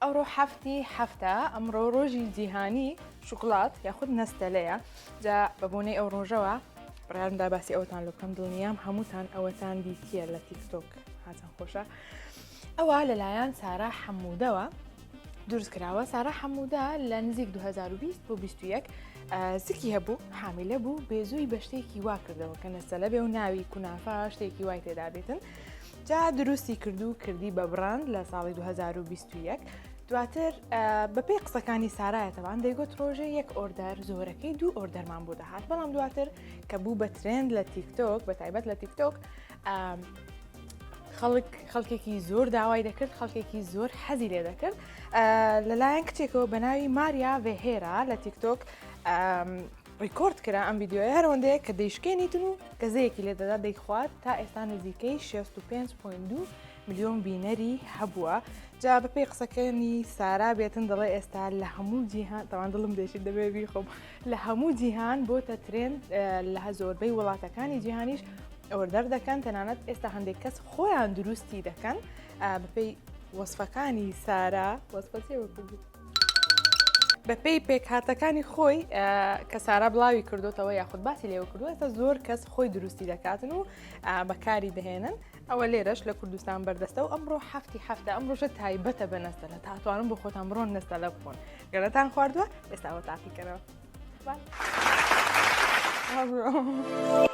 ئەوڕۆ حەفتی حەفتە، ئەمڕۆ ڕۆژی جیهانی شوکڵات یاخود نەستەلەیە جا بە بۆنەی ئەو ڕۆژەوە بڕارمدا باسی ئەوتان لە بکەم دڵنیام هەمووتان ئەوەتان دیتیە لە تیکتۆک هاتان خۆشە ئەوە لەلایەن سارا حەمودەوە دروست کراوە سارا حەمودا لە نزیک 2020 بۆ 21 سکی هەبوو حامیلە بوو بێزووی بە شتێکی وا کردەوە کە نەسەلە بێ و ناوی کونافە شتێکی وای تێدابێتن جا دروستی کردو کردی بە بڕاند لە ساڵی 2021 دواتر بەپێی قسەکانی سارایەتەوان دەیگوت ڕۆژێ یەک ئۆردەر زۆرەکەی دوو ئۆردەرمان بۆ دەهات بەڵام دواتر کە بوو بە ترند لە تیکتۆک بە تایبەت لە تیکتۆک خەڵک خەڵکێکی زۆر داوای دەکرد خەڵکێکی زۆر حەزی لێ دەکرد لەلایەن کچێکەوە بە ناوی ماریا ڤێهێرا لە تیکتۆک ڕیکۆرد کرا ئەم ڤیدیۆیە هەرەوەندەیە کە دەیشکێنیتن و گەزەیەکی لێدەدا دەیخوات تا ئێستا نزیکەی 65.2 ملیۆن بینەری هەبووە جا بەپی قسەکەنی سارا بێتن دەڵێ ئێستا لە هەموو جیهان تەوان دڵم دێشی دەبێ بیخۆم لە هەموو جیهان بۆتە ترێن لە هە زۆربەی وڵاتەکانی جیهانیش ئەوەدەر دەکەن تەنانەت ئێستا هەندێک کەس خۆیان دروستی دەکەن بەپی وەصفەکانی سارا وەصفەتی وەکوبوو بەپێی پێکهاتەکانی خۆی کە سارا بڵاوی کردوتەوە یاخود باسی لێوە کردوێتە زۆر کەس خۆی دروستی دەکاتن و بەکاری دەهێنن ئەوە لێرەش لە کوردستان بەردەستە و ئەمڕۆ هەفتی هەفتە ئەمڕۆژە تایبەتە بە نەستەلە تاتوانم بۆ خۆتان بڕۆن نەستەلە بخۆن گەرەتان خواردووە ئێستاوە تاقیکەرەوە. Thank you.